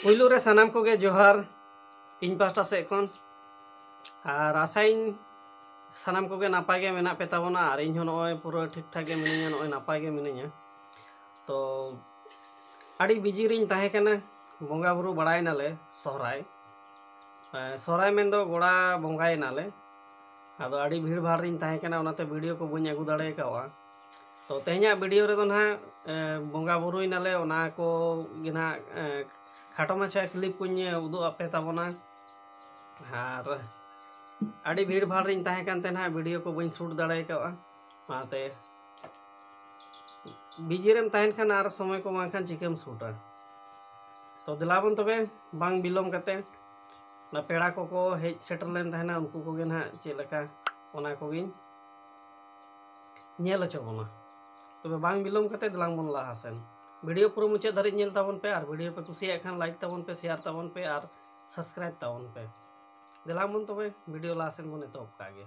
ᱯᱩᱭᱞᱩ ᱨᱮ ᱥᱟᱱᱟᱢ ᱠᱚᱜᱮ ᱡᱚᱦᱟᱨ ᱤᱧ ᱯᱟᱥᱴᱟ ᱥᱮᱫ ᱠᱷᱚᱱ ᱟᱨ ᱟᱥᱟᱭᱤᱧ ᱥᱟᱱᱟᱢ ᱠᱚᱜᱮ ᱱᱟᱯᱟᱭ ᱜᱮ ᱢᱮᱱᱟᱜ ᱯᱮ ᱛᱟᱵᱚᱱᱟ ᱟᱨ ᱤᱧ ᱦᱚᱸ ᱱᱚᱜᱼᱚᱭ ᱯᱩᱨᱟᱹ ᱴᱷᱤᱠ ᱴᱷᱟᱠ ᱜᱮ ᱢᱤᱱᱟᱹᱧᱟ ᱱᱚᱜᱼᱚᱭ ᱱᱟᱯᱟᱭ ᱜᱮ ᱢᱤᱱᱟᱹᱧᱟ ᱛᱚ ᱟᱹᱰᱤ ᱵᱤᱡᱤ ᱨᱤᱧ ᱛᱟᱦᱮᱸ ᱠᱟᱱᱟ ᱵᱚᱸᱜᱟ ᱵᱩᱨᱩ ᱵᱟᱲᱟᱭᱮᱱᱟᱞᱮ ᱥᱚᱦᱨᱟᱭ ᱥᱚᱦᱨᱟᱭ ᱢᱮᱱᱫᱚ ᱜᱚᱲᱟ ᱵᱚᱸᱜᱟᱭᱮᱱᱟᱞᱮ ᱟᱫᱚ ᱟᱹᱰᱤ ᱵᱷᱤᱲ ᱵᱷᱟᱲ ᱨᱤᱧ ᱛᱟᱦᱮᱸ ᱠᱟᱱᱟ ᱚᱱᱟᱛᱮ ᱵᱷᱤᱰᱤᱭᱳ ᱠᱚ ᱵᱟᱹᱧ ᱟᱹᱜᱩ ᱫᱟᱲᱮ ᱠᱟᱣᱟ ᱛᱚ ᱛᱮᱦᱮᱧᱟᱜ ᱵᱷᱤᱰᱤᱭᱳ ᱨᱮᱫᱚ ᱱᱟᱦᱟᱜ ᱵᱚᱸᱜᱟ ᱵᱩᱨᱩᱭ ᱱᱟᱞᱮ ᱚᱱᱟ ᱠᱚ ᱜᱮ ᱱᱟᱦᱟᱜ ᱠᱷᱟᱴᱚ ᱢᱟᱪᱷᱟ ᱠᱞᱤᱯ ᱠᱚᱧ ᱩᱫᱩᱜ ᱟᱯᱮ ᱛᱟᱵᱚᱱᱟ ᱟᱨ ᱟᱹᱰᱤ ᱵᱷᱤᱲ ᱵᱷᱟᱲ ᱨᱤᱧ ᱛᱟᱦᱮᱸ ᱠᱟᱱ ᱛᱮ ᱱᱟᱦᱟᱜ ᱵᱷᱤᱰᱤᱭᱳ ᱠᱚ ᱵᱟᱹᱧ ᱥᱩᱴ ᱫᱟᱲᱮ ᱠᱟᱣᱟ ᱚᱱᱟᱛᱮ ᱵᱤᱡᱤ ᱨᱮᱢ ᱛᱟᱦᱮᱱ ᱠᱷᱟᱱ ᱟᱨ ᱥᱚᱢᱚᱭ ᱠᱚ ᱵᱟᱝᱠᱷᱟᱱ ᱪᱤᱠᱟᱹᱢ ᱥᱩᱴᱟ ᱛᱚ ᱫᱮᱞᱟᱵᱚᱱ ᱛᱚᱵᱮ ᱵᱟᱝ ᱵᱤᱞᱚᱢ ᱠᱟᱛᱮ ᱚᱱᱟ ᱯᱮᱲᱟ ᱠᱚᱠᱚ ᱦᱮᱡ ᱥᱮᱴᱮᱨ ᱞᱮᱱ ᱛᱟᱦᱮᱱᱟ ᱩᱱᱠᱩ ᱠᱚᱜᱮ ᱱᱟᱦᱟᱜ ᱪᱮᱫ ᱞᱮᱠᱟ ᱚᱱᱟ ᱠᱚᱜᱮᱧ ᱧᱮᱞ ᱦᱚᱪᱚ ᱵᱚᱱᱟ ᱛᱚᱵᱮ ᱵᱟᱝ ᱵᱤᱞᱚᱢ ᱠᱟᱛᱮ ᱫᱮᱞᱟᱝ ᱵᱚᱱ ᱞᱟᱦᱟ ᱥᱮᱱ ᱵᱷᱤᱰᱤᱭᱳ ᱯᱩᱨᱟᱹ ᱢᱩᱪᱟᱹᱫ ᱫᱷᱟᱹᱨᱤᱡ ᱧᱮᱞ ᱛᱟᱵᱚᱱ ᱯᱮ ᱟᱨ ᱵᱷᱤᱰᱤᱭᱳ ᱯᱮ ᱠᱩᱥᱤᱭᱟᱜ ᱠᱷᱟᱱ ᱞᱟᱭᱤᱠ ᱛᱟᱵᱚᱱ ᱯᱮ ᱥᱮᱭᱟᱨ ᱛᱟᱵᱚᱱ ᱯᱮ ᱟᱨ ᱥᱟᱵᱥᱠᱨᱟᱭᱤᱵ ᱛᱟᱵᱚᱱ ᱯᱮ ᱫᱮᱞᱟᱝ ᱵᱚᱱ ᱛᱚᱵᱮ ᱵᱷᱤᱰᱤᱭᱳ ᱞᱟᱦᱟ ᱥᱮᱱ ᱵᱚᱱ ᱮᱛᱚᱦᱚᱵ ᱠᱟᱜ ᱜᱮ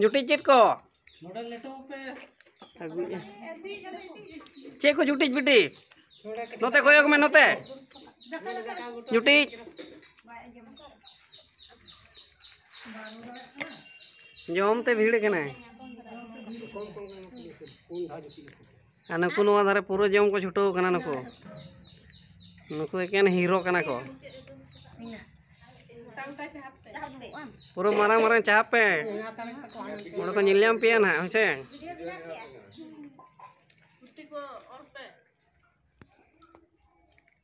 ᱡᱩᱴᱤ ᱪᱮᱫ ᱠᱚ ᱪᱮᱫ ᱠᱚ ᱡᱩᱴᱤᱡ ᱵᱤᱴᱤ ᱱᱚᱛᱮ ᱠᱚᱭᱚᱜ ᱢᱮ ᱱᱚᱛᱮ ᱡᱩᱴᱤᱡ ᱡᱚᱢ ᱛᱮ ᱵᱷᱤᱲ ᱠᱟᱱᱟᱭ ᱟᱨ ᱱᱩᱠᱩ ᱱᱚᱣᱟ ᱫᱷᱟᱨᱮ ᱯᱩᱨᱟᱹ ᱡᱚᱢ ᱠᱚ ᱪᱷᱩᱴᱟᱹᱣ ᱠᱟᱱᱟ ᱱᱩᱠᱩ ᱱᱩᱠᱩ ᱮᱠᱮᱱ ᱦᱤᱨᱳ ᱠᱟᱱᱟ ᱠᱚ ᱯᱩᱨᱟᱹ ᱢᱟᱨᱟᱝ ᱢᱟᱨᱟᱝ ᱪᱟᱦᱟᱯ ᱯᱮ ᱚᱸᱰᱮ ᱠᱚ ᱧᱮᱞ ᱧᱟᱢ ᱯᱮᱭᱟ ᱱᱟᱦᱟᱜ ᱦᱮᱸᱥᱮ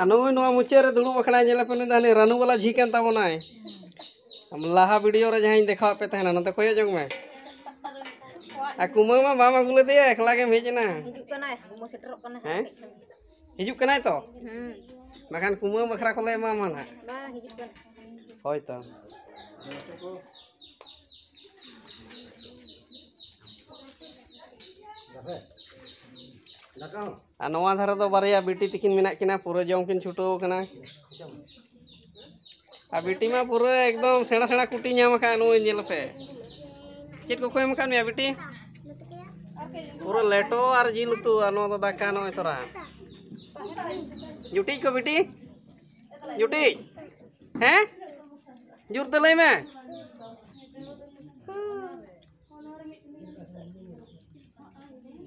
ᱟᱨ ᱱᱩᱭ ᱱᱚᱣᱟ ᱢᱩᱪᱟᱹᱫ ᱨᱮ ᱫᱩᱲᱩᱵ ᱟᱠᱟᱱᱟᱭ ᱧᱮᱞᱮ ᱯᱮ ᱱᱩᱭ ᱫᱚ ᱦᱟᱹᱱᱤ ᱨᱟᱹᱱᱩ ᱵᱟᱞᱟ ᱡᱷᱤ ᱠᱟᱱ ᱛᱟᱵᱚᱱᱟᱭ ᱞᱟᱦᱟ ᱵᱷᱤᱰᱤᱭᱳ ᱨᱮ ᱡᱟᱦᱟᱸᱧ ᱫᱮᱠᱷᱟᱣᱟᱫ ᱯᱮ ᱛᱟᱦᱮᱱᱟ ᱱᱚᱛᱮ ᱠᱚᱭᱚᱜ ᱡᱚᱝ ᱢᱮ ᱟᱨ ᱠᱩᱢᱟᱹ ᱢᱟ ᱵᱟᱢ ᱟᱹᱜᱩ ᱞᱮᱫᱮᱭᱟ ᱮᱠᱞᱟ ᱜᱮᱢ ᱦᱮᱡ ᱮᱱᱟ ᱦᱤᱡᱩᱜ ᱠᱟᱱᱟᱭ ᱠᱩᱢᱟᱹ ᱥᱮᱴᱮᱨᱚᱜ ᱠᱟᱱᱟᱭ ᱦᱮᱸ ᱦᱤᱡᱩᱜ ᱠᱟᱱᱟᱭ ᱛᱚ ᱵᱟᱠᱷᱟᱱ ᱠᱩᱢᱟᱹ ᱵᱟᱠᱷᱨᱟ ᱠᱚᱞᱮ ᱮᱢᱟᱢᱟ ᱱᱟᱜ ᱵᱟᱝ ᱦᱤᱡᱩᱜ ᱠᱟᱱᱟ ᱦᱳᱭ ᱛᱚ Gracias. ᱟᱨ ᱱᱚᱣᱟ ᱫᱷᱟᱨᱮ ᱫᱚ ᱵᱟᱨᱭᱟ ᱵᱤᱴᱤ ᱛᱤᱠᱤᱱ ᱢᱮᱱᱟᱜ ᱠᱤᱱᱟ ᱯᱩᱨᱟᱹ ᱡᱚᱢ ᱠᱤᱱ ᱪᱷᱩᱴᱟᱹᱣ ᱠᱟᱱᱟ ᱟᱨ ᱵᱤᱴᱤ ᱢᱟ ᱯᱩᱨᱟᱹ ᱮᱠᱫᱚᱢ ᱥᱮᱬᱟ ᱥᱮᱬᱟ ᱠᱩᱴᱤ ᱧᱟᱢ ᱟᱠᱟᱫ ᱱᱩᱭ ᱧᱮᱞ ᱯᱮ ᱪᱮᱫ ᱠᱚᱠᱚ ᱮᱢ ᱟᱠᱟᱫ ᱢᱮᱭᱟ ᱵᱤᱴᱤ ᱯᱩᱨᱟᱹ ᱞᱮᱴᱚ ᱟᱨ ᱡᱤᱞ ᱩᱛᱩ ᱟᱨ ᱱᱚᱣᱟ ᱫᱚ ᱫᱟᱠᱟ ᱱᱚᱜᱼᱚᱭ ᱛᱚᱨᱟ ᱡᱩᱴᱤᱡ ᱠᱚ ᱵᱤᱴᱤ ᱡᱩᱴᱤᱡ ᱦᱮᱸ ᱡᱩᱨᱛᱮ ᱞᱟᱹᱭ ᱢᱮ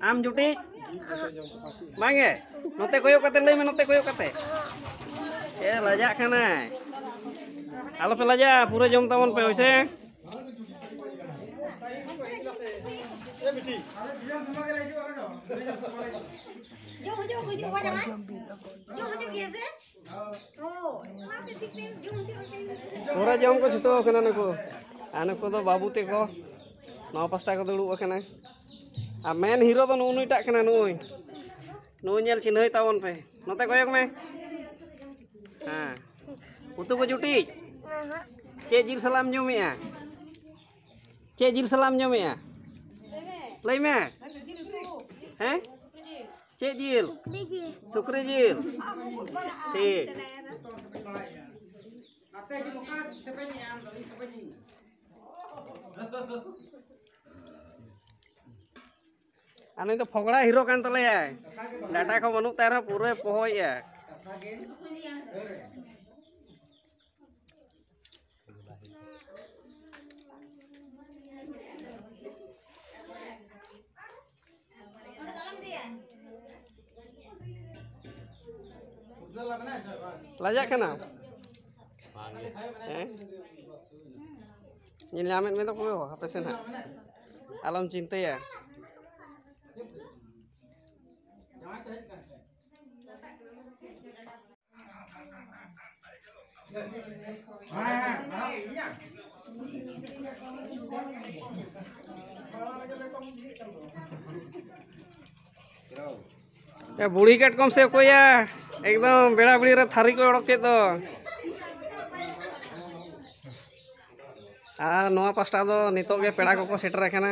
ᱟᱢ ᱡᱩᱴᱤ ᱵᱟᱝᱜᱮ ᱱᱚᱛᱮ ᱠᱚᱭᱚᱜ ᱠᱟᱛᱮ ᱞᱟᱹᱭ ᱢᱮ ᱱᱚᱛᱮ ᱠᱚᱭᱚᱜ ᱠᱟᱛᱮ ᱮ ᱞᱟᱡᱟᱜ ᱠᱟᱱᱟᱭ ᱟᱞᱚᱯᱮ ᱞᱟᱡᱟᱜᱼᱟ ᱯᱩᱨᱟᱹ ᱡᱚᱢ ᱛᱟᱵᱚᱱ ᱯᱮ ᱦᱳᱭᱥᱮ ᱯᱩᱨᱟᱹ ᱡᱚᱢ ᱠᱚ ᱪᱷᱩᱴᱟᱹᱣ ᱟᱠᱟᱱᱟ ᱱᱩᱠᱩ ᱟᱨ ᱱᱩᱠᱩ ᱫᱚ ᱵᱟᱹᱵᱩ ᱛᱮᱠᱚ ᱱᱚᱣᱟ ᱯᱟᱥᱴᱟ ᱠᱚ ᱫᱩᱲᱩᱵ ᱟᱠᱟᱱᱟ ᱟᱨ ᱢᱮᱱ ᱦᱤᱨᱳ ᱫᱚ ᱱᱩᱜᱼᱩ ᱱᱩᱭᱴᱟᱜ ᱠᱟᱱᱟ ᱱᱩᱭ ᱱᱩᱭ ᱧᱮᱞ ᱪᱤᱱᱦᱟᱹᱭ ᱛᱟᱵᱚᱱ ᱯᱮ ᱱᱚᱛᱮ ᱠᱚᱭᱚᱜ ᱢᱮ ᱦᱮᱸ ᱩᱛᱩ ᱠᱚ ᱡᱩᱴᱤᱡ ᱪᱮᱫ ᱡᱤᱞ ᱥᱟᱞᱟᱜ ᱮᱢ ᱡᱚᱢᱮᱜᱼᱟ ᱪᱮᱫ ᱡᱤᱞ ᱥᱟᱞᱟᱜ ᱮᱢ ᱡᱚᱢᱮᱜᱼᱟ ᱞᱟᱹᱭ ᱢᱮ ᱦᱮᱸ ᱪᱮᱫ ᱡᱤᱞ ᱥᱩᱠᱨᱤ ᱡᱤᱞ ᱴᱷᱤᱠ ᱟᱨ ᱱᱩᱭ ᱫᱚ ᱯᱷᱚᱜᱽᱲᱟ ᱦᱤᱨᱳ ᱠᱟᱱ ᱛᱟᱞᱮᱭᱟᱭ ᱰᱟᱴᱟ ᱠᱚ ᱵᱟᱹᱱᱩᱜ ᱛᱟᱭ ᱨᱮᱦᱚᱸ ᱯᱩᱨᱟᱹᱭ ᱯᱚᱦᱚᱭᱮᱜᱼᱟ ᱞᱟᱡᱟᱜ ᱠᱟᱱᱟ ᱦᱮᱸ ᱧᱮᱞ ᱧᱟᱢᱮᱫ ᱢᱮ ᱫᱚᱠᱚ ᱦᱟᱯᱮ ᱥᱮ ᱱᱟᱜ ᱟᱞᱚᱢ ᱪᱤᱱᱛᱟᱹᱭᱟ ᱮ ᱵᱩᱲᱦᱤ ᱠᱟᱴᱠᱚᱢ ᱥᱮ ᱚᱠᱚᱭᱟ ᱮᱠᱫᱚᱢ ᱵᱮᱲᱟ ᱵᱮᱲᱤ ᱨᱮ ᱛᱷᱟᱹᱨᱤ ᱠᱚ ᱚᱰᱚᱠ ᱠᱮᱫ ᱫᱚ ᱟᱨ ᱱᱚᱣᱟ ᱯᱟᱥᱴᱟ ᱫᱚ ᱱᱤᱛᱚᱜ ᱜᱮ ᱯᱮᱲᱟ ᱠᱚᱠᱚ ᱥᱮᱴᱮᱨ ᱟᱠᱟᱱᱟ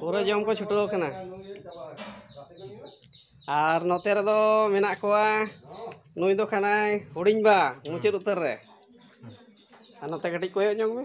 ᱯᱩᱨᱟᱹ ᱡᱚᱢ ᱠᱚ ᱪᱷᱩᱴᱟᱹᱣ ᱠᱟᱱᱟ ᱟᱨ ᱱᱚᱛᱮ ᱨᱮᱫᱚ ᱢᱮᱱᱟᱜ ᱠᱚᱣᱟ ᱱᱩᱭ ᱫᱚ ᱠᱟᱱᱟᱭ ᱦᱩᱰᱤᱧ ᱵᱟ ᱢᱩᱪᱟᱹᱫ ᱩᱛᱟᱹᱨ ᱨᱮ ᱟᱨ ᱱᱚᱛᱮ ᱠᱟᱹᱴᱤᱡ ᱠᱚᱭᱚᱜ ᱧᱚᱜ ᱢᱮ